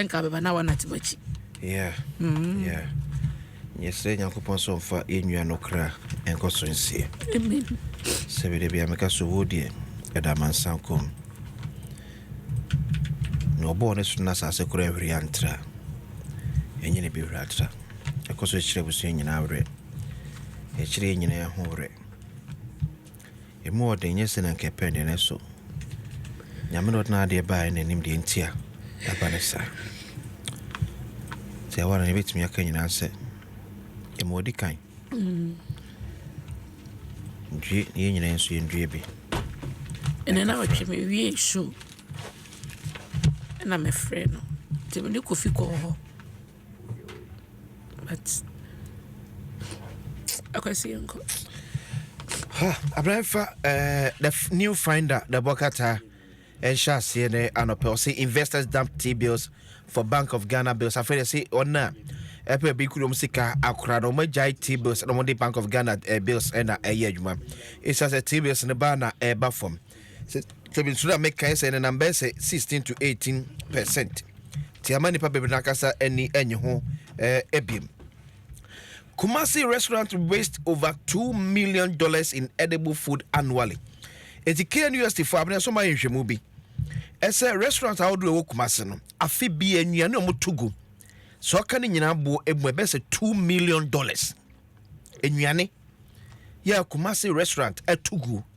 nka bɛba na wɔnate m'akyi yeah mm. yeah yɛsrɛ nyankopɔn sɛ ɔmfa yɛnnua no kra ɛnkɔ so nsie sɛ bɛda bia meka so wuo deɛ ɛda mansa kɔm na ɔbɔɔ ne so no asase kora ahwiri antra ɛnyɛ ne bɛhwiri atra ɛkɔ so kyerɛ abusua nyinaa werɛ ɛkyerɛ yɛ nyinaa ho werɛ Emu ɔden nyɛ sɛnea anka ɛpɛ de, nanso Nyame na ɔde n'adeɛ baeɛ na nim deɛ nti a ɛba no saa. Sɛ ɛwɔ no yɛbɛtumi aka nyinaa sɛ ɛmu ɔdi kan. Due yɛn nyinaa nso yɛndue bi. Ɛnɛ na ɔtwe me wie show ɛna mefrɛ no nti mene Kofi kɔɔ hɔ. Abrɛ fa eh, the new finder the bɔkata ɛnhyɛ aseɛ ne anɔpɛ ɔse investors dump t bills for bank of ghana bills afei de se ɔn a ɛpɛ bi kurom sika akora no ɔmagyae t bills na ɔmode bank of ghana eh, bills ɛna ɛyɛ adwuma ɛsia sɛ t bills no baa na ɛba fam Sɛ sɛ misuro a mekae sɛ ɛnenam bɛyɛ sɛ 16 to 18 per cent te ama nnipa bebree no ankasa ani nnye ho eh, biem. Kumasi restaurant waste over two million dollars in edible food annually. Eti KNUST fo abena so ma nhwɛmu bi. Ɛsɛ restaurant ahodoɔ ɛwɔ Kumasi no afe bi nnuane a wɔto gu sɛ ɔka ne nyinaa boɔ emu ɛbɛyɛ sɛ two million dollars nnuane yɛ Kumasi restaurant ɛto guo.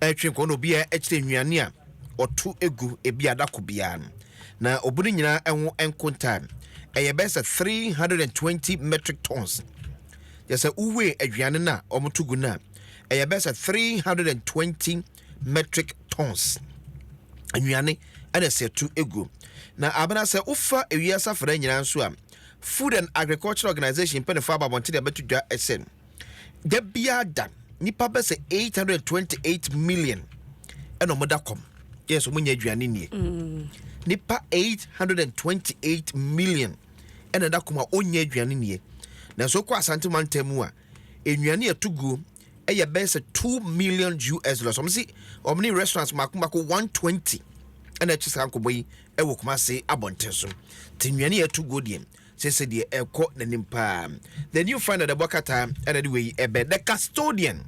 ɛretwe nkɔmmɔ na obiara kyerɛ nnuane a ɔto gu ebi ada ko biara no, na obu no nyinaa ho nkontaa ɛyɛ bɛyɛ sɛ 320 metric tons. Yɛ sɛ wowee aduane no a wɔto gu no a, ɛyɛ bɛyɛ sɛ 320 metric tons nnuane ɛna ɛsɛ ɛto gu. Na abena sɛ wofa ewiase afra nyinaa nso a, Food and Agriculture Organization mpanyinfoɔ abɔ abɔnten de abɛto dwa sɛ, da biara da nipa bɛ sɛ eight hundred and twenty eight million ɛna wɔn da kɔm yɛ sɛ wɔn nyɛ aduane nie mm. nipa eight hundred and twenty eight million ɛna da kɔm a wɔnyɛ aduane nie nanso kɔ asante mantam mu a nnuane ɛto guo ɛyɛ bɛyɛ sɛ two million us dollars wɔn si wɔn ne restaurants mako mako one twenty ɛna ɛkyɛ saa nkɔbɔ yi ɛwɔ kumase abɔnten so te nnuane ɛto guo deɛ. Kyerɛ sɛ deɛ ɛrekɔ n'anim paa. The new final ɛbɔ kata ɛna de wei ɛbɛ the custodian.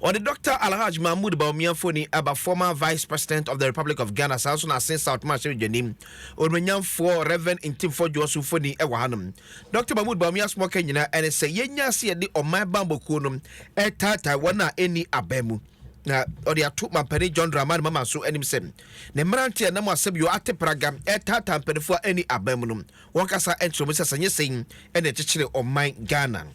Ɔde Dr. Alhaj Mahmood Bawumia mfoni aba former vice president of the Republic of Ghana saa nso na Asin South Mahyere Dwani Onuonyamfoɔ Rev. Ntimfoɔ Juosu mfoni ɛwɔ hanom. Dr. Mahmood Bawumia asoma ɔka nyinaa ɛne sɛ yɛnya ase yɛde ɔman bammɔ kuo no ɛretaataa wɔn a ɛnni aban mu na ɔde ato Mampanin John Dramani Mahama nso anim sɛ Ne mmerante a ɛnam asɛbio ate praga retaataa mpanyinfoɔ a ɛnni aban mu no, wɔn kasa kyerɛ mu sɛ sɛ nyɛ sei na ɛkyekyere ɔman Ghana.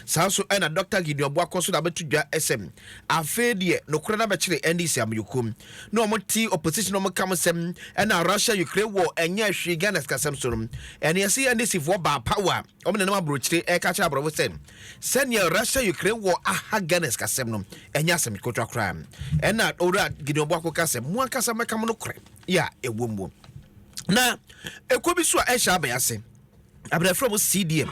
Saa nso na Dɔkta Gideon Boakor nso na abɛto dwa sɛ afei deɛ nokorɛ no abɛkyere NDC amanyɔkuo ne wɔn te opposition no wɔn ka mo sɛm na Russia Ukraine war ɛnyɛ hwee Ghana sikasɛm so no ɛne ɛse NDC foɔ baa power Wɔnenam aburokyire reka akyerɛ aborɔfo sɛ sɛnea Russia Ukraine wɔ aha Ghana sikasɛm no ɛnyɛ asɛm ketewa koraa. Ɛna Owura Gideon Boako ka sɛ mo ankasa mɛka mo nokorɛ yɛ a ɛwɔ mu. Na ɛkɔ bi so a ɛhyɛ abɛn ase. Abɛrɛfrɛ mo CDM.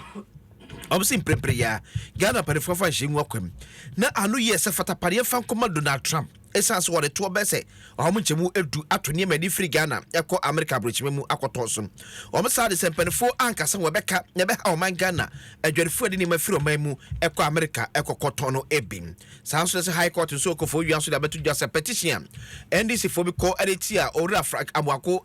Wɔn si mprempren yɛ a Ghana mpanimfoɔ afa nhyɛ ngu akwam. Na ano yɛ sɛ fatapadeɛ fa nkɔma Donald Trump. Esiane sɛ wɔde toɔ bɛyɛ sɛ wɔn nkyɛmu du ato nneɛma ani firi Ghana kɔ Amerika aburokyima mu akɔtɔn so no, wɔn saa de sɛ mpaninfoɔ anka sɛ wɔbɛka na ɛbɛha ɔman Ghana adwadifoɔ a ɛde nneɛma firi ɔman mu kɔ Amerika kɔkɔtɔn no bi. Saa nso na sɛ High Court nso rekɔ fowia nso de abɛto dwa sɛ petition a NDC foɔ bi kɔ de tia Owura Frank Amoako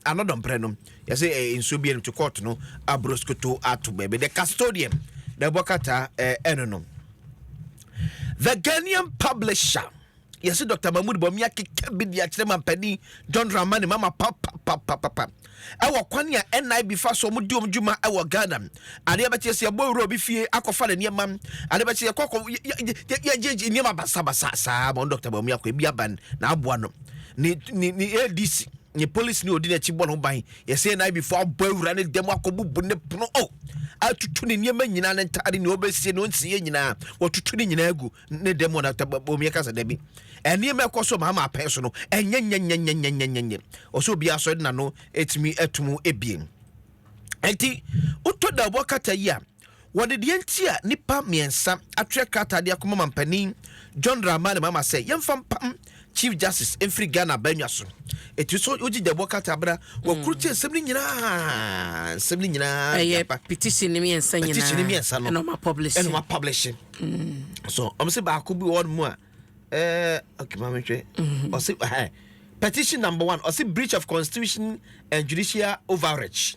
ano dɔmprɛ no, yɛse nsuo biara ntu court no aburo skoto ato baabi. The custodian, the bɔkata ɛno no. The Ghanaian publisher yɛse Dr. Mahmoud Bawumia keka bi de akyerɛ mampanin John Dramani mama papapapapa ɛwɔ kwan a NIB fa so wɔn di wɔn dwuma ɛwɔ Ghana adeɛ bɛkyɛ sɛ yɛbɔ ewura obi fie akɔfa ne nneɛma adeɛ bɛkyɛ yɛkɔ akɔ yɛgye nneɛma basabasa saa ma Dr. Bawumia kɔ ebi aban na aboa no ne ne ne ADC ne polisi ne odi n'akyi bɔ ne ho ban Yɛsɛ NIB fo abɔ awura ne dɛm akɔbubu ne pono o atutu ne nneɛma nyinaa ne ntaade ne ɔbɛsie ne ɔnsiyɛ nyinaa wɔtutu ne nyinaa gu ne dɛm wɔ natabom yɛ kasa dabi nneɛma ɛkɔ so maama apɛn so no ɛnyɛ nyɛnyɛnyɛnyɛnyɛnyɛ ɔsɛ obi asɔ de n'ano ɛtumi ɛtum ebien ɛnti wotɔ da ɔbɔ kata yi a Wɔde deɛ nti a nnipa mmiɛnsa atwerɛ krataa de akɔma Mampanin John Dramani Mahama sɛ yɛmfa mpam Chief Justice mfiri Ghana abannwa so. Ɛtumi sɛ wogye gyabɔ krataa bere a wɔkoro tie nsɛm no nyinaa, nsɛm no nyinaa de aba. Ɛyɛ petition no mmiɛnsa nyinaa. Petition no mmiɛnsa no. Ɛna wɔn apublish. Ɛna wɔn apublish. So wɔn sɛ baako bi wɔ hɔ mu a ɛɛ okay maame hwɛ ɔsɛ ɛɛ petition number one ɔsɛ breach of constitution and judicial overreach.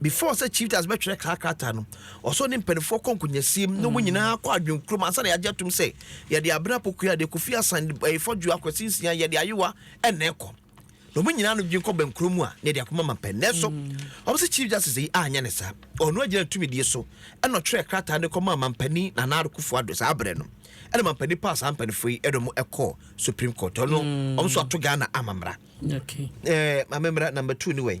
Before sɛ Chief Justice bɛtwerɛ saa krataa no, ɔsɛ ɔne mpanimfoɔ kɔ nkonyasiem na wɔn nyinaa kɔ adwene kurom ansa na yɛagye atom sɛ yɛde Abena Pokuya, de Kofi Asan, de eh, Fɔdwo, Akwasi Nsia, yɛde Ayewa ɛna ɛkɔ. Na wɔn nyinaa no dwen kɔ bɛnkuro mu a na yɛde akoma ma pɛ. Nanso, wɔn sɛ Chief Justice yi anyɛ ne saa. Ɔno agyina tumidie so ɛna ɔtwerɛ krataa no kɔmaa mampanin Nana Addo Kufuor-Addo saa berɛ no. Ɛna mampanin paa saa mpanimfoɔ yi ɛna wɔn ɛkɔɔ Supreme Court. Ɔno, wɔn nso ato Ghana amammerɛ. Okay. Eh, Maame Mmara, number two ne wɛn.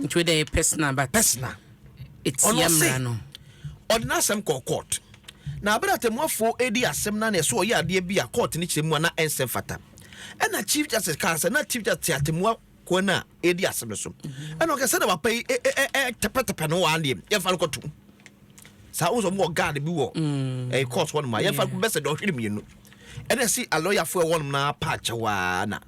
nti wei deɛ yɛ personal but personal ɛtia mmara no ɔde n'asɛm kɔɔ court na abere atemmuafoɔ edi asɛm na na ɛso ɔyɛ adeɛ bi a court ne kyerɛ mu a na ɛnsɛ fata ɛna chief justice kaa sɛ na chief justice atemmua kwan no a ɛdi asɛm no so mhm. ɛna ɔkɛ sɛ na wapa yi tɛpɛtɛpɛ no waa deɛ yɛmfa no kɔtom saa wo sɛ ɔmowɔ guard bi wɔ mm. ɛyɛ court hɔ nom a yɛmfa bɛsɛ dɛ ɔhwere mmienu ɛna si alɔyafoɔ ɛwɔ nom no apaakyɛ waa na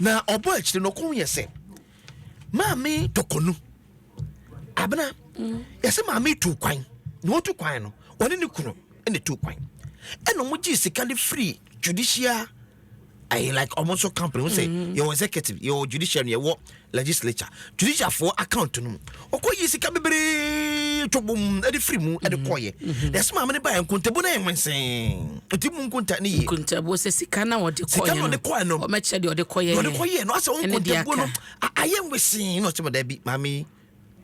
Na ɔbɔ akyire no ɔkɔn yɛ sɛ maame tɔkɔnu abena mm. yɛsɛ maame tu kwan na wɔtu kwan no ɔne ne kunu na tu kwan ɛna wɔn gye sika no firi judicial ayi like ɔmo nso company ɔmo sɛ mm-hmm. yɛwɔ executive yɛwɔ judiciary yɛwɔ legislature judicial foɔ account no mu ɔkɔ yi sika bebree to bom de firi mu de mm-hmm. kɔɔyɛ mm-hmm. na ɛsɛ maame no baeɛ nkontabu no yɛ hwensee ɛti mu nkonta ne yie nkontabu sɛ sika na ɔde kɔɔyɛ no ɔde kɔɔyɛ no ɔmɛkyerɛ deɛ ɔde kɔɔyɛ ɔde kɔɔyɛ no asɛ wɔn nkontabu no ayɛ nwesee na ɔkyɛ bɛda bi maame yi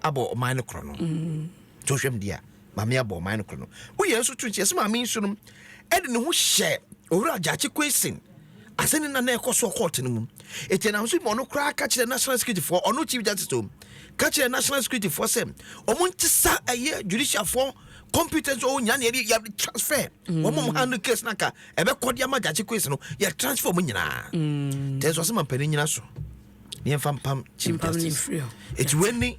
abɔ ɔman no korɔ no mm. to hwɛm deɛ Maame abɔ ɔman no korɔ no. Wo yɛn nso to nti yɛsɛ maame nso no ɛde ne ho hyɛ owura Gyakye Quayson asɛn ne nana ɛkɔ soɔ kɔɔte no mu. Eti ɛnam so ma ɔno koraa ka kyerɛ national security foɔ ɔno chief justice o ka kyerɛ national security foɔ sɛ ɔmo nti sa ɛyɛ judicial foɔ competence ɔwɔ nyinaa na yɛde yɛde transfer mm. wɔn mo handle case na nka ɛbɛkɔ de ama Gyakye Quayson no yɛ transfer ɔmo nyinaa. Mm. Tɛnso asɛm ampanin nyina so. Yɛn fa mpam chief justice. Eti wɛni.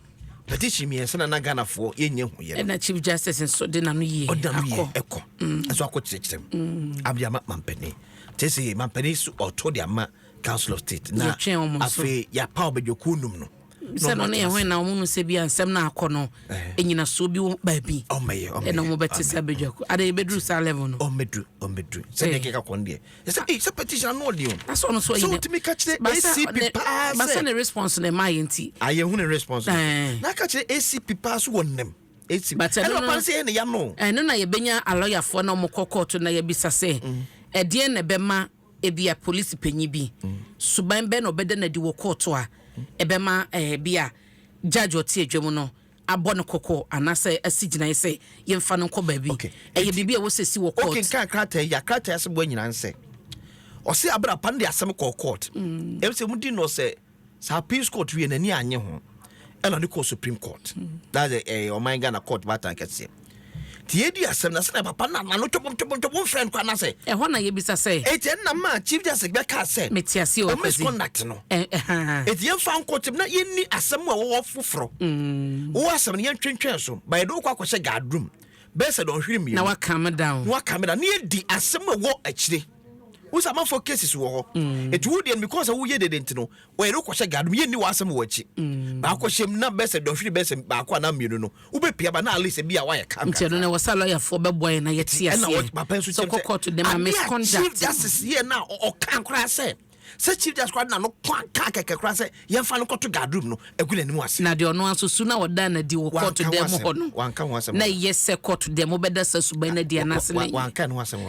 Petition mmiɛnsa na na Ghanafoɔ yɛnyɛ ho yɛ. Ɛna Chief Justice nso de n'ano yie akɔ. Ɔda no yie ɛkɔ. Mm. Ɛso akɔ kyerɛkyerɛm. Mm. Abdi ama mampanin. Te sɛ mampanin so ɔto de ama Council of State. Na afei yɛapa ɔbɛdwakuo num no. sɛ no ne yɛn hɔn na wɔn no sɛ bi a nsɛm na akɔ no ɛnyinasoɔ eh. bi wɔ baabi ɛna wɔn bɛte sɛ abɛdwaku ada yɛ bɛduru saa level no ɔmɛduru ɔmɛduru sɛdeɛ keka kɔn deɛ Yɛsɛ ee sɛ petition ano ɔden o. Asɔ no so ayi. Sɛ wotumi ka kyerɛ ACP paa sɛ. Basa ne response na ɛma yɛ nti. A yɛn hu ne response. Eh. Na ka kyerɛ ACP paa so wɔ nnam. ACP. But ɛno no. Ɛna sɛ ɛna yano. Ɛno na yɛbɛnya alɔyafoɔ na wɔn kɔ kɔɔto na yɛbisa sɛ. Mm. Ɛdeɛn na ɛbɛma ebi a polisi panyin bi. Mm. Suban bɛn na ɔbɛda n'adi wɔ kɔɔto a. Mm. Ɛbɛma ɛɛ eh, bi a judge ɔte adwa mu no abɔ no kɔkɔ anaasɛ asi gyinae sɛ yɛmfa no nkɔ baabi. Okay. Ɛyɛ Enti, biribi a wɔsɛ si wɔ court. Wokenkan krataa yi a, krataa yi asɛm bɔ nyinaa ne sɛ, ɔse aber a papa no de asɛm kɔɔ court, mm. ɛm sɛ mudi no sɛ saa appeals court wie n'ani anye ho, ɛna ɔde kɔɔ Supreme Court. Mm. That's ɛyɛ eh, ɔman Ghana court baatan kɛseɛ. Nti yɛredi asɛm na sɛnea papa no anaa no twobomtwobomtwobo mfrɛ no koraa no ase. Ɛhɔ na yɛbisa sɛ. Enti ɛno na maa Chief Justice bɛkaa sɛ. Mete aseɛ o Kwasi. Wɔmisconduct no. Enti yɛmfa nkɔ ɔtam na yɛnni asɛm mu a wɔwɔ foforɔ. Wo asɛm no yɛntwentwɛn so but yɛde wo kɔ akɔhyɛ guard room bɛyɛ sɛ dɔnhwere mmienu. Na wa calm down. Na wa calm down na yɛdi asɛm mu a ɛwɔ akyire. Wohu sɛ amanfoɔ cases wɔ hɔ. Enti wo deɛ no because sɛ woyɛ dede nti no wɔyere wo kɔhyɛ guard mu yɛnni w'asɛm wɔ akyi mm. baako hyɛm na bɛɛ sɛ dɔhwere bɛɛ sɛ baako anaa mmienu no wobɛpia ba na at least bi a woayɛ ka nti ɛno na ɛwɔ sɛ lɔyafoɔ bɛboa yɛ na yɛte aseɛ papa nso kyɛm sɛ kɔkɔto dɛm a misconduct chief justice yɛ na ɔka koraa sɛ sɛ chief justice koraa na no kwan kaa kɛkɛ koraa sɛ yɛmfa no kɔto guard room no agu n'anim ase na deɛ ɔno nso su na ɔda no adi wɔ kɔɔto dɛm hɔ no na ɛyɛ sɛ kɔɔto dɛm wobɛda sa suban no adi anaasɛ na wanka no asɛm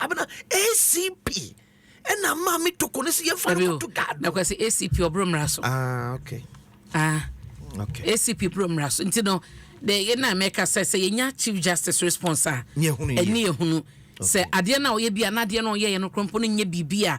abena acp ɛna maa me toko no sɛ yɛmfa no kɔto daado na kwasi acp ɔboro mmara so ah, okay. ah. Okay. acp boro mmara so nti no de yɛ na mɛka sɛ sɛ yɛnya chief justice response a ɛne yɛhunu sɛ adeɛ no a ɔyɛ bi a na adeɛ no ɔyɛyɛ no korɔmpo no nyɛ biribi a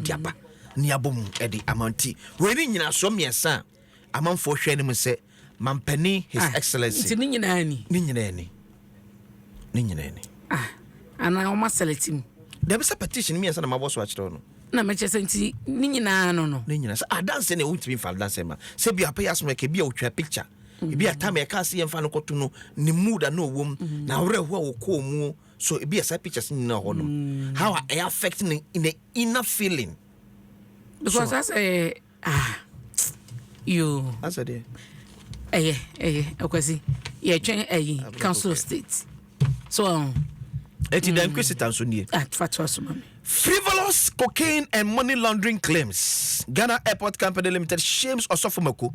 de aba ne abɔ mu de ama nti wei ne nyinasoɔ mmiɛnsa a amanfoɔ hwɛ anim sɛ mampanin his ah, excellency nti ne nyinaa ni ne nyinaa ni ne nyinaa ni ah, anaa wɔn asɛlɛti mu dabi sɛ petition mmiɛnsa na mabɔ so akyerɛ no na mekyɛ sɛ nti ne nyinaa no no ne nyinaa sɛ adanse na ɛwontumi mfa adanse ma sɛ bi apɛ yɛ asoma ka bi a wotwa picture ebi atam ɛka ase yɛmfa no kɔto no ne mood a na ɔwɔ mu na awerɛhoɔ a wɔkɔɔ mu So ebi a saa pictures no nyinaa hɔ no mm. how a ɛyɛ affect ne ne inner feeling. because asɛ eh, ah yoo. asɛ deɛ. ɛyɛ ɛyɛ akwasi yɛtwɛn ɛyi council state so ɔn. Um, eti dan mm. kwesita nso nie. Ah, fa to aso ma mi. frivolous cocaine and money laundering claims ghana airport company limited shames ɔsɔfo mako.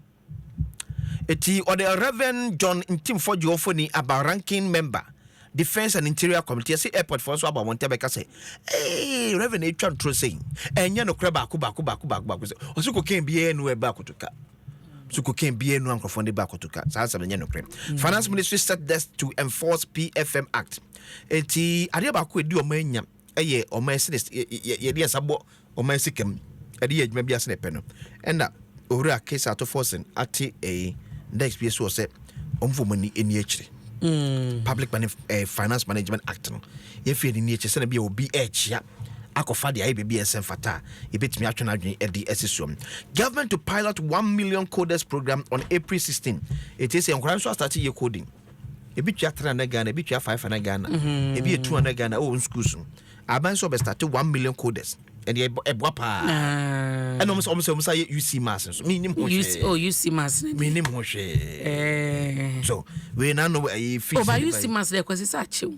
Enti ɔde Rev. John Ntimfo Gyuofoni aba Ranking Member, Defence and Interior Committee. Yɛse Airport foɔ nso aba wɔn ntɛm bɛka sɛ, Ee, Rev. Atwa ntoro sei. Ɛnyɛ nokorɛ baako baako baako baako baako sɛ, ɔse cocaine biara nnu ɛba akotoka. So cocaine biara nnu a nkorɔfoɔ no de ba akotoka. Saa asɛm no nyɛ nokorɛ. Finance Ministry set desk to enforce PFM Act. Enti adeɛ baako a ɛdi wɔn anya. yɛ ɔman asi ne yɛde yɛn nsa bɔ ɔman asi kam de yɛ adwuma bi ase na ɛpɛ no ɛna owura kesa ato fɔsen ate ɛyi next bi so sɛ wɔn fɔ wɔn ani akyire mm. public money eh, finance management act no yɛfiri ani akyire sɛnɛ bi a obi ɛrekyia akɔfa deɛ ayɛ baabi a ɛsɛ mfata a yɛbɛtumi atwe no adwene ɛde asi soɔ government to pilot one million coders program on april 16 ɛtie sɛ nkora nso astate yɛ coding ebi tua three hundred ghana ebi tua five hundred ghana mm-hmm. ebi yɛ two hundred ghana ɛwɔ wɔn schools no aban sɛ ɔbɛstate one million coders ɛdeɛ ɛboa paa ɛna ɔmo sɛ ɔmo sɛ ɔmo sɛ ayɛ uc mass nso mi nim ho hwee oh uc mass mi nim ho hwee so wei na no ɛyɛ fi si ɔba uc mass dɛ kwasi sɛ akyew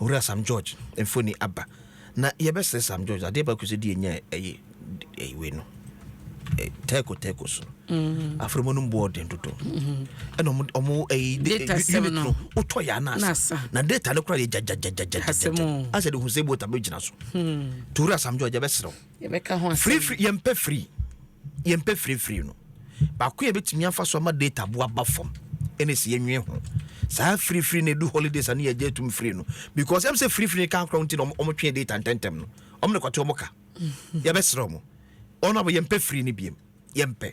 Owura Sam George mfoni aba na yɛbɛsrɛ Sam George adeɛ baako sɛ deɛ nya ɛyɛ ɛyi wei no tɛko tɛko so mm. afrɛmɔ no mboɔ ɔden dodo mm-hmm. ɛna ɔmo ɔmo ɛyi unit no wotɔ yɛ anasa na data no kora yɛ gyagyagyagyagyagya asɛ de hu sɛ bota bɛgyina so hmm. Owura Sam George yɛbɛsrɛ yɛbɛka ho asɛm. Firifiri yɛmpɛ firi yɛmpɛ firifiri no baako yɛ bɛtumi afa so ama data bo aba fam ɛna ɛsɛ yɛnwe ho saa firifiri na ɛdu holidays a ne yɛgye atum firi no because ɛm sɛ firifiri ka nkorɔ nti na ɔmotwe data ntɛntɛm no ɔmo ne kɔte ɔmo ka yɛbɛserɛ ɔmo ɔno abɔ yɛmpɛ firi no biam yɛmpɛ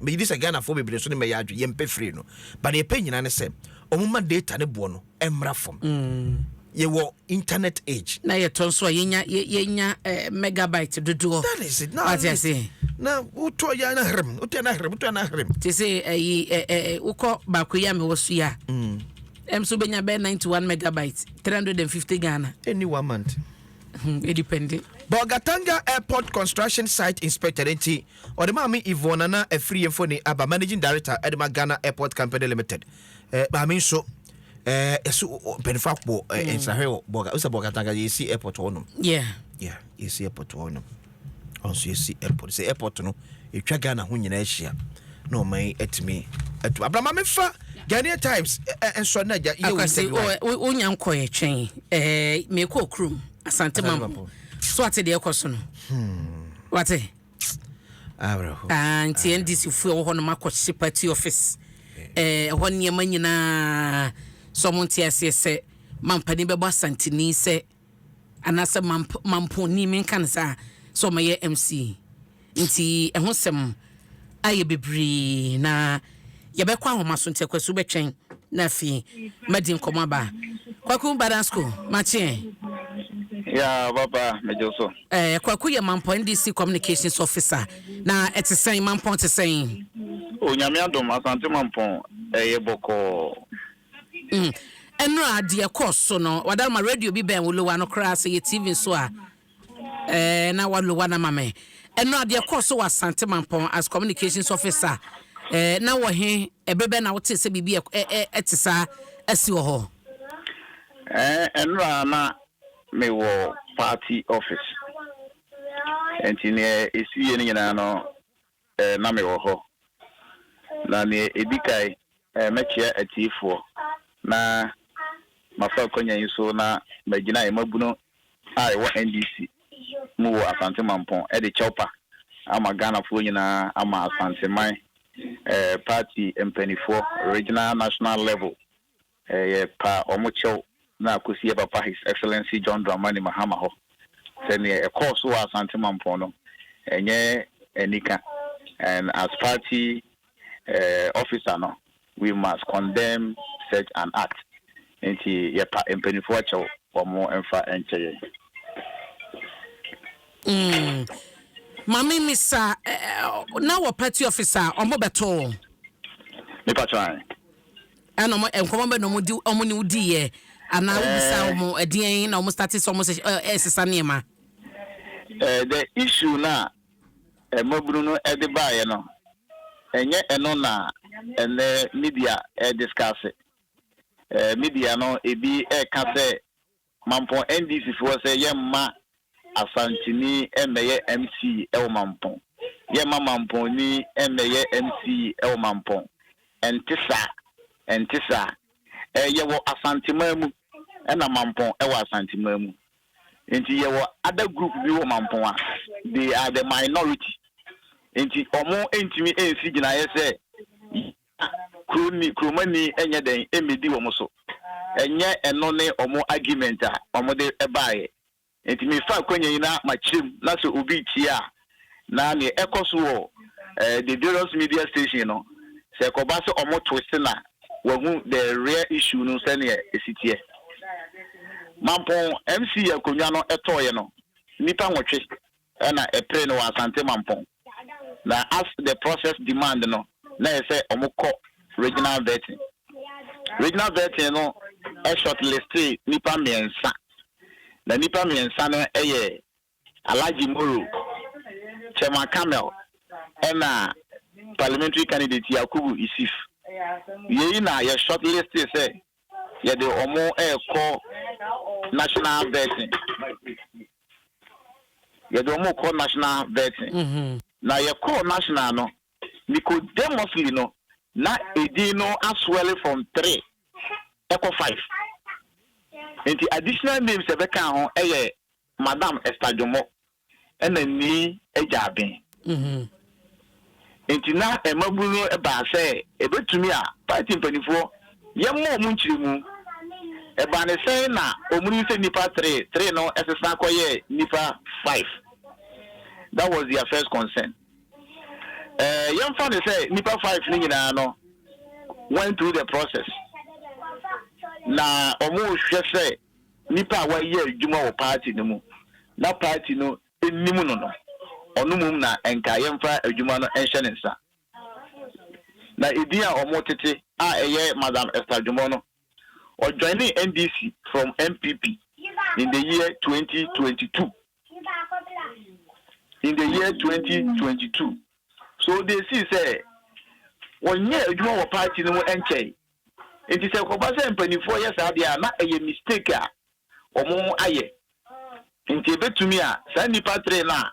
megye di sɛ ghanafoɔ bebree nso ne mɛyɛ adwe yɛmpɛ firi no but deɛ yɛpɛ nyinaa ne sɛ ɔmoma data ne boɔ no mmra fam mm. yɛwɔ internet age na yɛtɔ nso a yɛnya yɛnya eh, megabyte dodoɔ that is it na wate ase na wotɔ yɛ na hrem wotɔ na hrem wotɔ na hrem te sɛ ayi eh, eh, wokɔ baako yi a mewɔ so yi a ɛm mm. so bɛnya bɛyɛ 91 megabyte 350 ghana ɛni one month ho edipɛnde. Bolgatanga Airport Construction Site Inspector no nti, ɔde Maame Yvonne Nana Afriyie mfoni aba, Managing Director de ma Ghana Airport Company Limited. Eh, maame nso, eh, yɛsi mpanyinfo akɔ eh, mm. nsrahwɛ wɔ Bolga, wosɛ Bolgatanga yɛsi airport hɔ nom. Yeah. Yeah, yɛsi airport hɔ nom. ɔnso yɛsi airport sɛ airport no ɛtwa ghana ho nyinaa ahyia na ɔma yi atumi atu abrama mefa ghanaian times nsɔ no agya yɛwɔsɛ wonya nkɔyɛ twɛn mekɔ kurom asante mampo so ate deɛ ɛkɔ so no hmm. wate ah, nti ndc foɔ ɛwɔ hɔ no makɔhye party office ɛhɔ nneɛma nyinaa sɛ ɔmo nte aseɛ sɛ mampani bɛbɔ asanteni sɛ Anaasɛ mamp mampɔnni menka no saa sɛ ɔmɛyɛ MC nti ɛho sɛm ayɛ bebree na yɛbɛkɔ ahoma so nti akwasu bɛtwɛn na afei madi nkɔmɔ aba kwaku badan school makyeɛ ya papa medwo so ɛɛ eh, kwaku yɛ mampɔn ndc communications officer na ɛte sɛn mampɔn te sɛn onyame adom asante mampɔn ɛyɛ bɔkɔɔ Mm, nnora a deɛ ɛkɔɔ so no, wadaroma radio bi bɛn wo lowa no koraa, sɛ yɛ TV nso a, ɛɛ, na wa lowa no ama me. Nnora deɛ ɛkɔɔ so wɔ Asante Mampɔn as communications officer, ɛɛ, na wɔ he, ɛberɛ bɛn na wotee sɛ biribi ɛ, ɛ, ɛ, ɛte saa asi wɔ hɔ? Ɛɛ, nnora na mewɔ party office, nti deɛ ɛsiiɛ no nyinaa no, Na mewɔ hɔ. Na nea edi kan, mɛkyea atiefoɔ, na mafa akwanya yi so na magyina yɛn mmabunu a yɛwɔ NDC mu wɔ Asante Mampɔn de kyɛwpa ama Ghanafoɔ nyinaa ama Asanteman party mpaninfoɔ, regional, national level, Yɛ pa wɔn kyɛw na kosi yɛ papa His Excellency John Dramani Mahama hɔ sɛ neɛ ɛkɔɔ so wɔ Asante Mampɔn no ɛnyɛ anika and as party officer no we must condemn such an act nti yɛ pa mpaninfoɔ kyɛw wɔn mfa nkyɛ yɛn. Mm Mame misa eh, na wɔ party officer wɔn bɛtoo wɔn? Me pa kyɛw ae. Ɛna wɔn nkɔmɔ bɛ na wɔn di wɔn ne wo di yɛ anaa wobisa wɔn eh. ɛdeɛn na wɔn starte sɛ wɔn ɛresesa eh, nneɛma. Eh, the issue na mmabunu no ɛde baayɛ no ɛnyɛ ɛno na ɛnɛ media ɛdiskase eh, media no ebi ɛka sɛ Mampɔn NDC foɔ sɛ yɛmma Asanteni mmɛyɛ MC wɔ Mampɔn. Yɛmma Mampɔnni mmɛyɛ MC wɔ Mampɔn. Ɛnte saa. Ɛnte saa. Ɛɛ yɛwɔ Asanteman mu ɛna Mampɔn wɔ Asanteman mu. Nti yɛwɔ other group bi wɔ Mampɔn a they are the minority. Nti wɔn ntumi nsi gyinaeɛ sɛ yɛmma. Na kuroni, kuromani nyɛ dɛn mmedi wɔn so. Ɛnyɛ ɛno ne wɔn argument a wɔde baeɛ. Enti mefa akwanya yi na makyerɛ mu, na sɛ obi retie a, na deɛ ɛkɔ so wɔ the various media station no, sɛ ɛkɔba sɛ wɔn twist no a, wahu the real issue no sɛdeɛ ɛsi teɛ. Mampɔn MC akonnwa no ɛtɔeɛ no, nnipa nwɔtwe na ɛperee no wɔ Asante Mampɔn. Na as the process demand no, na ɛyɛ sɛ wɔkɔ regional vetting. Regional vetting no shortlistee nnipa mmiɛnsa, na nnipa mmiɛnsa no yɛ Alhaji Moro, Chairman Kamel, ɛna Parliamentary candidate Yakubu Isif. Yei na yɛ shortlistee sɛ Yɛde wɔn rekɔ national vetting. Yɛde wɔn rekɔ national vetting. Mm -hmm. Na yɛkɔɔ national no, Nicodemously no, na edin no aswell from three ɛkɔ five. Nti additional names a ɛbɛka ho yɛ Madam Esther Jomo. na nni agyaadwen. Enti na mmabun no baa sɛ ebetumi a paati mpanimfoɔ yɛmmɔ wɔn nkyerɛmu. Ɛbaa ne sɛn na wɔyii sɛ nnipa three three no sesa kɔyɛɛ nnipa five? That was their first concern. Eh, yɛmfa no sɛ nnipa five no nyinaa no went through the process na wɔrehwɛ sɛ nnipa a wɔyɛ adwuma wɔ paati no mu na paati no nim no no, ɔno mmom na nka yɛmfa adwuma no nhyɛ ne nsa. Na edin a wɔtete a ɛyɛ Madam Esther Dwomoh no, ɔjoinee NDC from NPP in the year twenty twenty two, in the year twenty twenty two. So deɛ esii sɛ wɔnyɛɛ adwuma wɔ paati no mu nkyɛe. Enti sɛ ɛkɔba sɛ mpanimfoɔ yɛ saa deɛ a, na ɛyɛ mistake a wɔayɛ. Enti ɛbɛtumi a, saa nnipa three no a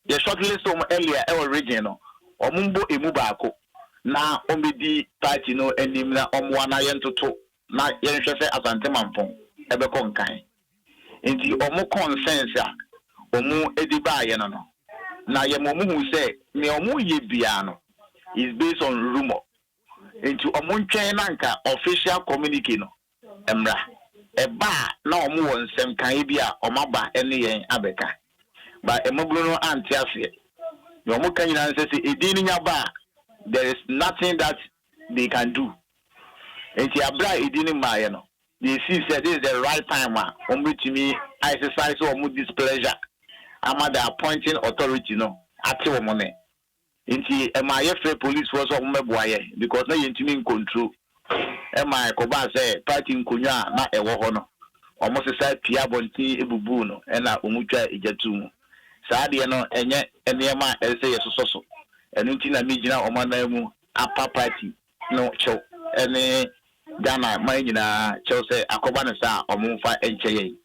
yɛ shortlist wɔn earlier wɔ region no, wɔmmɔ ɛmu baako na wɔmmɛdi party no anim na wɔmmoa na yɛntoto na yɛnhwɛ sɛ Asante Mampong bɛkɔ nkan. Enti wɔn concerns a wɔde baeɛ no no, na yɛma wɔhuu sɛ deɛ wɔyɛ biara no is based on rumour. Enti ɔmo ntwɛn na anka official communique no mmra. Ɛba a na ɔmo wɔ nsɛm ka, ebia ɔmo aba ɛne yɛn abɛka. But mmabunu no ante aseɛ. Nea ɔmo ka nyinaa ne sɛ sɛ edin no nya ba a, there is nothing that they can do. Enti aberɛ a edin no mmaaeɛ no, they see sɛ this is the right time a ɔmo bɛtumi a exercise ɔmo displeasure ama the appointing authority no ate ɔmo nne. Nti ɛmaa yɛfrɛɛ polisfoɔ sɛ wɔmmɛboa yɛn because na yɛntumi ncontrol. Ɛmaa ɛkɔbaa sɛ party nkonnwa a na ɛwɔ hɔ no, wɔsesaa pia abɔnten bubuu no ɛna wɔtwaa egya too mu. Saa adeɛ no ɛnyɛ nneɛma a ɛsɛ sɛ yɛsosɔ so. Ɛno nti na megyina wɔn ananmu apa party no kyɛw ne Ghana man nyinaa kyɛw sɛ akɔba no saa a wɔmfa nkyɛ yɛn.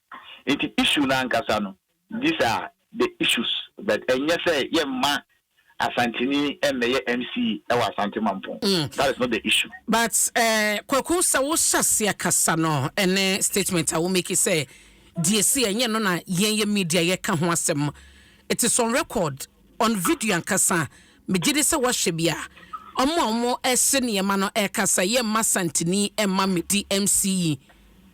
Nti issue no ankasa no These are the issues but ɛnyɛ sɛ yɛmma Asanteni mmɛyɛ MC wɔ Asante Mampɔn. That is not the issue. But Kwaku sɛ wo hyɛ aseɛ kasa no ɛne statement a wo make sɛ deɛ si ɛnyɛ no na yɛn yɛ media yɛka ho asɛm it is on record on video ankasa me gyedi sɛ woahwɛ bi a ɔmo a ɔmo ɛhyɛ nneɛma no ɛka sɛ yɛmma Asanteni mma medi MC yi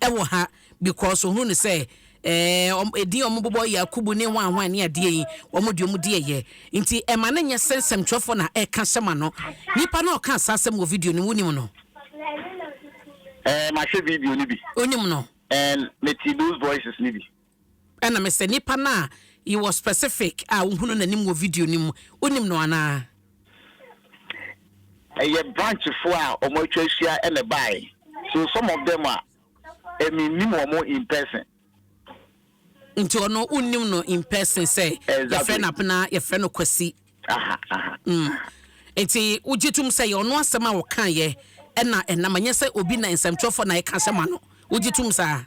ɛwɔ ha. bi kɔɔ so hunu no sɛ ɛɛ edin a wɔbobɔ Yakubu ne hwan hwan ne adeɛ yi wɔn deɛ wɔn di ɛyɛ nti ɛma no nyɛ sɛ nsɛmtwerɛfoɔ na ɛka hyɛ ma no nipa no ɔka saa asɛm wɔ video no wonim no. Ɛɛ mahwɛ video no bi. Wonim no. And mete those voices no bi. Ɛna mesɛ nipa no a yɛwɔ specific a wohunu n'anim wɔ video no mu wonim no anaa. Ɛyɛ branchfoɔ a wɔn atwa ahyia ɛna ɛbaeɛ so some of them a. Eh me nim wɔn in person. Nti ɔno wo nim no in person sɛ yɛfrɛ no Apena yɛfrɛ no Kwasi. Aha aha. Mm. Nti wogye tom sɛ yɛ ɔno asɛm a ɔka yɛ ɛna ɛnam ɛnyɛ sɛ obi na nsɛmtwerɛfoɔ na ɛka hyɛ ma no. Wogye tom saa?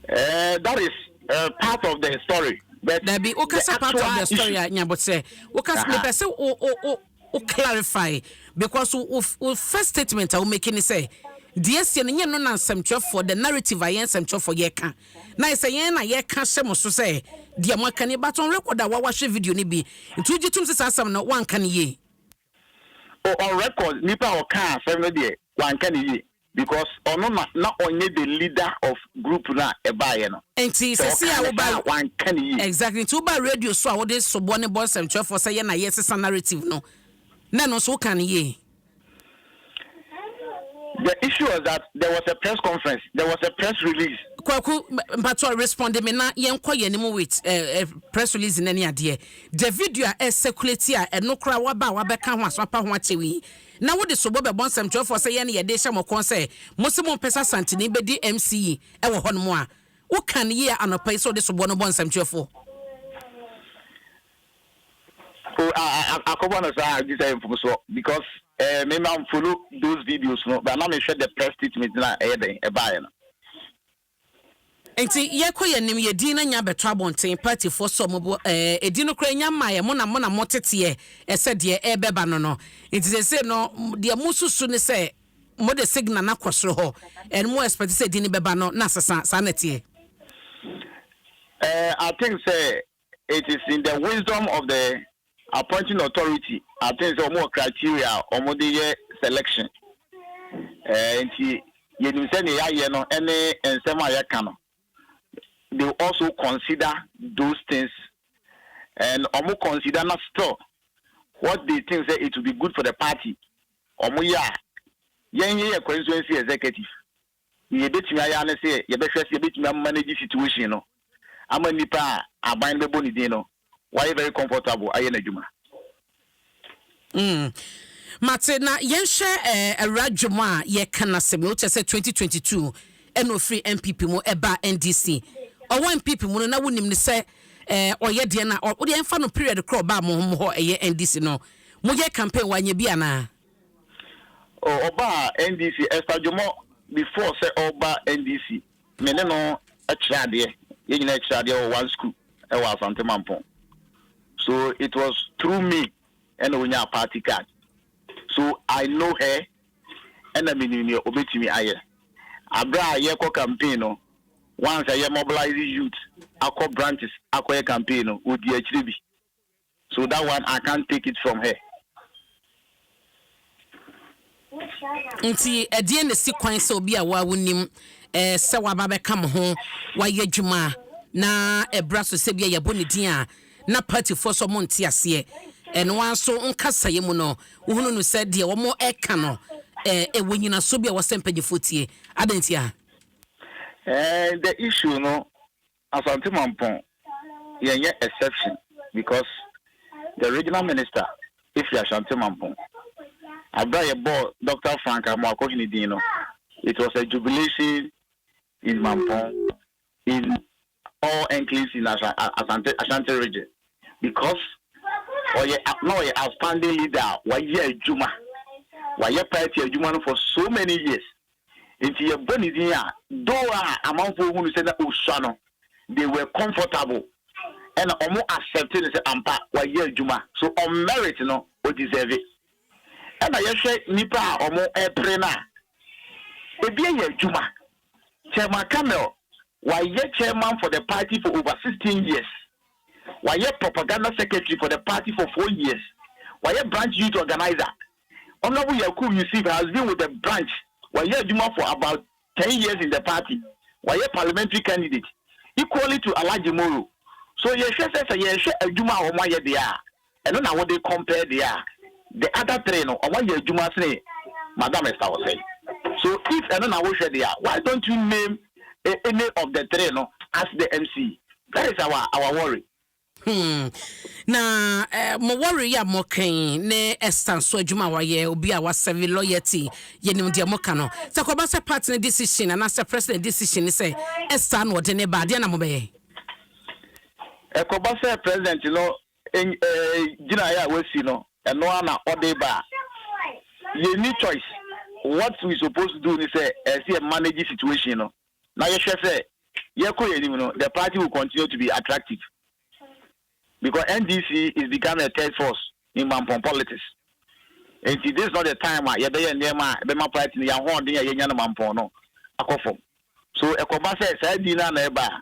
Eh that is uh, part of the story. But dabi wokasa part of the story a nyabotrɛ wokasa mepɛ sɛ wo wo wo Wo clarify because wo wo first statement a wo make ne sɛ deɛ ɛsiɛ no nyɛ no na nsɛmtwerɛfoɔ the narrative a yɛn nsɛmtwerɛfoɔ yɛka na ayɛ sɛ yɛn na yɛka hyɛ mo so sɛ deɛ mo aka ni but on record a wa wahwɛ video no bi nti wo gye tom sɛ saa asɛm no wanka no yie. Oh on record nipa a ɔka asɛm no deɛ wanka no yie. Because ɔno na na ɔnyɛ the leader of group no a ɛbaeɛ no. Nti Sɛ sɛsei ɔkaa a ne woba saa a, wanka ne yie. Exactly, nti woba radio so a wode soboɔ ne bɔ nsɛmtwerɛfoɔ sɛ yɛ na yɛ sesa narrative no, na ɛno nso wokaa no yie. The issue was that there was a press conference, there was a press release. Kwaku, mpakyɛw responde me na yɛnkɔ yɛn anim with eh, eh, press release no ne adeɛ. The video a ɛcirculate a ɛno koraa waba a wabɛka ho a so apa ho akyɛw yi, na wode sobo bɛbɔ nsɛmtwerɛfoɔ sɛ yɛn na yɛde rehyɛ mo kɔn sɛ mose mompɛ sɛ Asanteni bɛdi MC yi wɔ hɔnom a, wokaa no yie anɔpa yi sɛ wode soboɔ no bɔ nsɛmtwerɛfoɔ. O a a akɔbɔ no saa a gyesɛ ɛyɛ mfomsoɔ because eh, me ma mfollow those videos no but na mehwɛ the press statement no a ɛyɛ dɛn ɛbaeɛ no. Nti yɛkɔ yɛ nim yɛ din na nya bɛtɔ abɔnten party foɔ sɔ mo bo ɛɛ ɛdin no koraa nya mmaa yɛ mo na mo na mo teteɛ ɛsɛ deɛ ɛɛbɛba no no nti sɛsɛ no deɛ mo susu ne sɛ mo de signal no akɔ soro hɔ and mo expect sɛ ɛdin no bɛba no na sesa saa na ɛteɛ. Ɛɛ I think sɛ It is in the wisdom of the appointing authority I think sɛ wɔn wɔ criteria a wɔn de yɛ selection ɛɛ nti yɛnim sɛ nea yɛayɛ no ɛne nsɛm a yɛka no they also consider those things and wɔn consider na still what they think sɛ it will be good for the party wɔn yɛ a yɛn yɛ yɛ constituency executive Deɛ yɛbɛtumi ayɛ ara ne sɛ yɛbɛhwɛ sɛ yɛbɛtumi a manage situation no ama nipa a aban no bɛbɔ ne din no wayɛ very comfortable ayɛ n'adwuma. Mm mate na yɛnhwɛ eh, awura dwom a yɛka n'asɛm no wokyɛ sɛ 2022 ɛna ofiri NPP mu ɛba NDC ɔwɔ NPP mu no na wonim no sɛ eh, ɔyɛ deɛ na ɔ, wodeɛ ɛmfa no period korɔ ɔbaa mo hɔ ɛyɛ NDC no moyɛ campaign wanyɛ bi anaa? Ɔbaa NDC, Esther Dwomɔ, before sɛ ɔreba NDC, me ne no kyerɛ adeɛ, yɛn nyinaa kyerɛ adeɛ wɔ one school wɔ Asante Mampong. So it was through me ɛna ɔnyaa party card. So I know her, ɛna menim deɛ ɔbɛtumi ayɛ. Aberɛ a yɛrekɔ campaign no, once a yɛ mobilise youth akɔ branches akɔyɛ campaign no, ɔdii akyire bi. So that one I can't take it from her. Nti ɛdeɛn na ɛsi kwan sɛ obi a wo a wonim sɛ waba abɛka mo ho, wayɛ adwuma na ɛbra so sɛ bi a yɛabɔ ne din a na partyfoɔ sɛ ɔmo nte aseɛ ɛno ara nso wo nkasaeɛ mu no wohunu no sɛ deɛ ɔmo ɛka no ɛwɔ nyinasoɔ bi a ɛwɔ sɛ mpanyinfoɔ tie adɛn ntia? Eh, the issue no Asante Mampong yɛ nyɛ exception because the regional minister firi Ashanti Mampong. Aberɛ a yɛ bɔɔ Doctor Frank Amoakohene din no it was a jubilation in Mampong in all enclaves in Asante Ashanti region because ɔyɛ na ɔyɛ outstanding leader a wayɛ adwuma wayɛ party adwuma no for so many years Enti yɛbɔ ne din a, though a amanfoɔ hunu sɛ na ɔsua no, they were comfortable, ɛna wɔn accept no sɛ ampa wayɛ adwuma, so on merit no ɔ deserve. Ɛna yɛhwɛ nnipa a wɔn pere no a, ɛbi ayɛ adwuma, Chairman Camel wayɛ chairman for the party for over sixteen years, wayɛ propaganda secretary for the party for four years, wayɛ branch youth organiser Honourable Yakub Yusuf has been with the branch, wayɛ adwuma for about ten years in the party, wayɛ parliamentary candidate equally to Alhaji Moro. So yɛhwɛ sɛ sɛ yɛhwɛ adwuma a wɔn ayɛ deɛ a, ɛno na wode compare deɛ a the other three no wɔn ayɛ adwuma sene Madam Esther Osei. So if ɛno na wohwɛ deɛ a, why don't you name any of the three no as the MC? That is our our worry. Hmm. Na eh, mo wɔre yi a mɔkɛn ne Esther nso adwuma a wayɛ obi a wasɛve loyalty yɛnim deɛ moka no sɛ kɔba sɛ part no decision anaasɛ president decision ne sɛ Esther na ɔde ne ba adeɛ na mobɛyɛ ɛkɔba sɛ president no en- eh, gyinaeɛ a wasi no ɛno ara na ɔde ba a yɛnni choice what we suppose to do ne sɛ ɛsɛ yɛ manage situation no na yɛhwɛ sɛ yɛkɔ yɛn anim no, the party will continue to be attractive because NDC is becoming a third force in mampɔn politics. Enti this is not the time a yɛbɛyɛ nneɛma a ɛbɛma party no yɛn ahoɔden a yɛnya no mampɔn no akɔ fam. So ɛkɔba sɛ saa din no ara na ɛba a,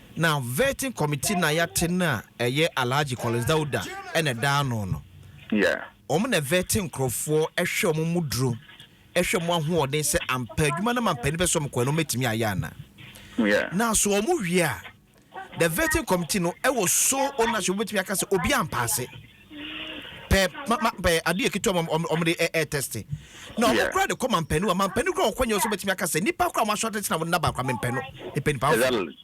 Na vetting committee na yɛate no a ɛyɛ Alhaji Collins Dauda na ɛda ano no. Yeah. Wɔn na ɛvɛte nkorɔfoɔ, ɛhwɛ wɔn mu duro, ɛhwɛ wɔn ahoɔden sɛ ampa adwuma no mampanin pɛ sɛ wɔn kɔ no wɔn atumi ayɛ ana. Yeah. Na so wɔn wie a, the vetting committee no ɛwɔ sole ownership wɔbɛtumi aka sɛ obi ampaase. pɛ ma ma pɛ adeɛ ketewa ma wɔn wɔn de ɛ ɛ tɛste na wɔn Yeah. kura de kɔ mampɛnu a mampɛnu kura wɔkɔ nyɛ wɔn so bɛtumi aka sɛ nipa kura wɔn asɔ atɛkyɛ na wɔn naba akora mampɛnu nipa nipa afɔ Exactly.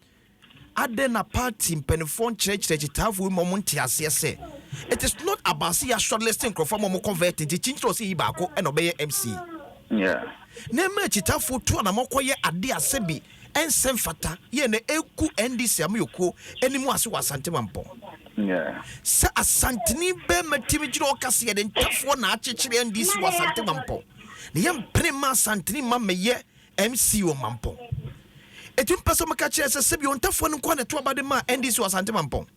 adɛn na party mpanimfoɔ nkyerɛkyerɛ kyitaafo yi ma wɔn nte aseɛ sɛ it is not about sɛ yɛ shortlist nkurɔfoɔ ma wɔn convert nti kyinkyerɛ ɔsɛ yi baako ɛna ɔbɛyɛ mc Yeah. na ɛma kyitaafo tu anamɔ kɔyɛ adeɛ a sɛbi ɛnsɛ mfata yɛn na ɛgu NDC amanyɔkuo anim ase wɔ Asante Mampɔn. Sɛ Asanteni bɛrima timi gyina ɔka sɛ yɛde ntafoɔ na akyekyere NDC wɔ Asante Mampɔn na yɛmpene mma Asanteni mma mmɛyɛ MC wɔ Mampɔn. Ɛtumi pa sɛ wɔka kyerɛ sɛ sɛbi ɔntafoɔ no nko ara na ɛto aba de ma NDC wɔ Asante Mampɔn.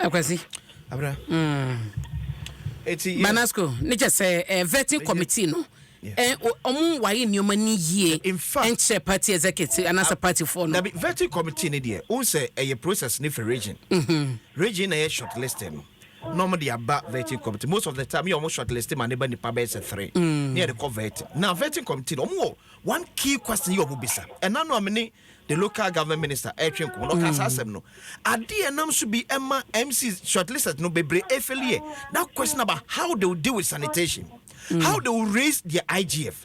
Akwasi. Abra. Mm. Eti. Banasco. Ne kyɛ sɛ ɛɛ eh, vetting committee no. Eh, ɔmo waye nneɛma ni yie nkyerɛ party executive anaasɛ party foɔ no. dabi vetting committee ne deɛ o sɛ ɛyɛ process ne fɛ region. Mhm. region na yɛ short list no. na wɔn de aba vetting committee most of the time yɛ wɔn short list ma ne ba nipa bɛyɛ sɛ three na yɛde kɔ vetting na vetting committee no wɔn wɔ one key question yɛ wɔn bisa ɛna no a me ne the local government minister ɛretwe nkɔmɔ na ɔka saa asɛm no adeɛ ɛnam so bi ɛma mc short list no bebree efeli yɛ that question about how they will deal with sanitation how they will raise their IGF.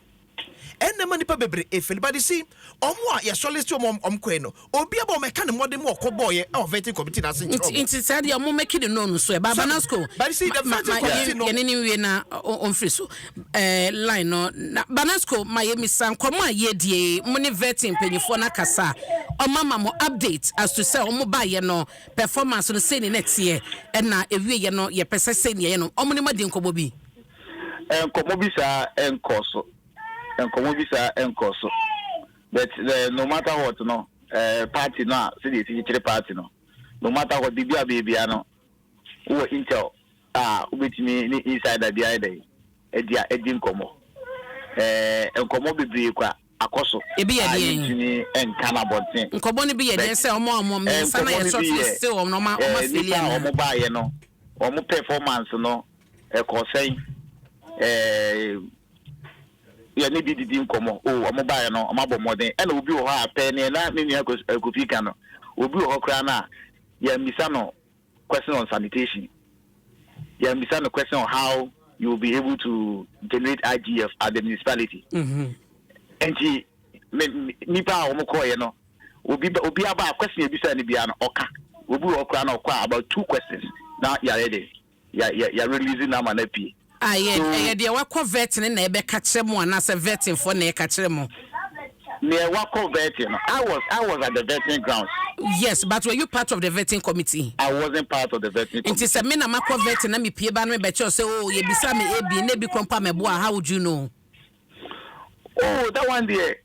Ɛna ɛma nnipa bebree feel but you see wɔn a yɛsɔ list wɔn a wɔn kɔɛ no obiara bɔ mɛka ne mmɔden mu ɔkɔ bɔɔyɛ ɛwɔ vetting committee na ase nkyerɛ wɔn. Nti saa deɛ wɔn mɛki ne no no so ɛ ba banasco but you see the vetting committee no yɛne ne wie na wɔn firi so ɛɛ line no na banasco ma yɛ misa nkɔmɔ a yɛ die mo ne vetting mpanyinfoɔ no akasa wɔn ama mo update as to sɛ wɔn ba yɛ no performance no sɛ ni na ɛteɛ ɛna ɛwie yɛ no yɛ pɛ sɛ sɛ ni yɛ no wɔn ne mo adi nkɔmɔ bi. Nkɔmmɔ bi saa nkɔɔ so. Nkɔmmɔ bi saa nkɔɔ so. But no matter what no, party no a sɛdeɛ yɛsi kyekyere party no, no matter what, biribi a ɔbɛyɛ biara no, wowɔ intel a wobɛtumi ne insider bi ayɛ dɛn, adi nkɔmmɔ. Nkɔmmɔ bebree kwa akɔ so a yentumi nka no abɔnten. Nkɔmmɔ no bi yɛ den sɛ wɔn a wɔn mmiɛnsa no a yɛto aso yi still wɔn na wɔn afeli anaa? Nnipa a wɔn baeɛ no wɔn performance no ɛkɔ sɛn? Ɛɛ. yɛ ne bi didi nkɔmmɔ o wɔn baeɛ no wɔn abɔ mmɔden ɛna obi wɔ hɔ a pɛɛ neɛ na me nua kofi ka no obi wɔ hɔ koraa no a yɛn bisa no question on sanitation yɛn bisa no question on how you will be able to generate IGF at the municipality nti nipa a wɔn kɔɔ yɛ no obi obi aba a question ebisa no bia no ɔka obi wɔ ɔkora na ɔkɔ a about two questions na yare de yɛ yɛ yɛ release na ama na pie. Ah yɛn ɛyɛ deɛ wakɔ vɛt no na ɛbɛka kyerɛ mo anaasɛ vɛtin foɔ na ɛka kyerɛ mo. Neɛ wakɔ vɛtin no I was I was at the vetting grounds. Yes but were you part of the vetting committee. I wasn't part of the vetting committee. Nti sɛ me na makɔ vɛtin na me pie ba no me bɛkyerɛ wo sɛ oo yɛbisaa me abien na ebi koraa mpo a mɛboa how would you know. Oh that one deɛ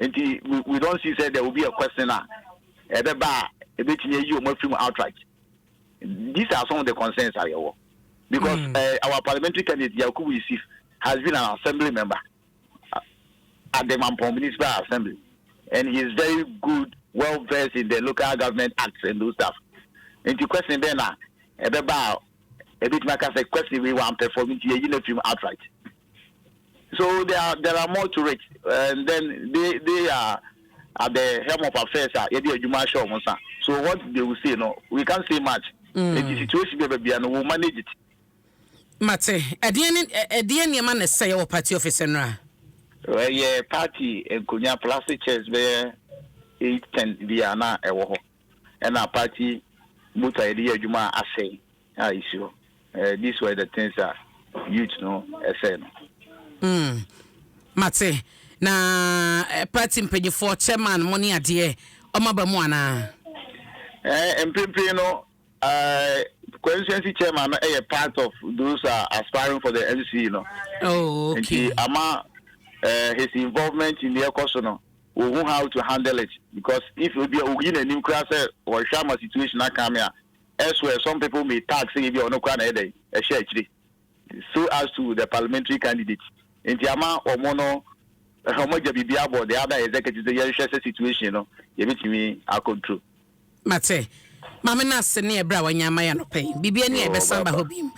Nti we, we don't see sɛ there will be a question a ɛbɛba a ɛbɛtumi ayi wɔn afiri mu outright. These are some of the concerns a yɛwɔ because mm. uh, our parliamentary candidate Yakubu Yusuf has been an assembly member at the Mampong Municipal Assembly and he is very good, well versed in the local government acts and those stuff. Nti question bɛn na ɛbɛba a ɛbɛtumi aka sɛ question wei wampɛfɔm nti yɛyi no afiri mu outright. So there are there are more to it and then they they are at the helm of affairs a yɛde adwuma ahyɛ wɔn nsa so what they will say no we can't say much mm. eti situation bi a baabi a no will manage it. mate ɛdeɛ ne ɛdeɛ nneɛma na ɛsɛ yɛ wɔ party office nnora. ɛyɛ party nkonya plastic chairs bɛyɛ eight ten bi a na ɛwɔ hɔ. ɛna apaakye motor a yɛde yɛ adwuma a asɛe a ɛsi hɔ. Eh, these were the things a youth no ɛsɛe no. Mm, mate. Na eh, party mpanyifoɔ, chairman mo ne adeɛ, ɔma ba mu anaa? Eh, mprempren no, eh, constituency chairman no ɛyɛ part of those a aspiring for the MC no. Oh, okay. Nti ama eh, his involvement in the ɛkɔ so no, Wɔhu how to handle it because if ebia oyi n'anim koraa sɛ ɔhwɛ ama situation aka me a, elsewhere some people may tag sɛ ebia ɔno koraa na ɛyɛ dɛn ɛhyɛ akyire so as to the parliamentary candidate nti ama wɔn no wɔagya biribi abɔ the other executive sɛ yɛnhwɛ sɛ situation no yɛbɛtumi acontrol. Mate. Maame no ase ne ɛberɛ a wanya ama yɛ anɔpa yi. Biribi ani a Yoo ɛbɛsan aba baba. hɔ biom.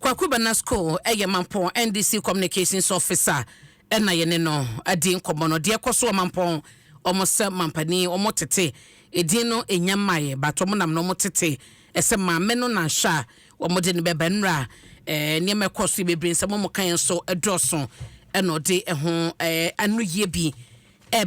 Kwaku Bana School ɛyɛ Mampɔn NDC Communications Office a ɛna yɛne no adi nkɔmmɔ no. Deɛ ɛkɔ so wɔ Mampɔn, wɔn sɛ mampanin, wɔn tete edin no ɛnya mmaeɛ but wɔn nam no wɔn tete ɛsɛ maame no na nhwɛ a wɔn de no bɛba. Nnura ɛɛ nneɛma ɛkɔ so yɛ bebree, nsɛm a wɔn ka yɛ nso ɛdɔɔso ɛna ɔde ɛho ɛɛ anoyie bi ɛɛba.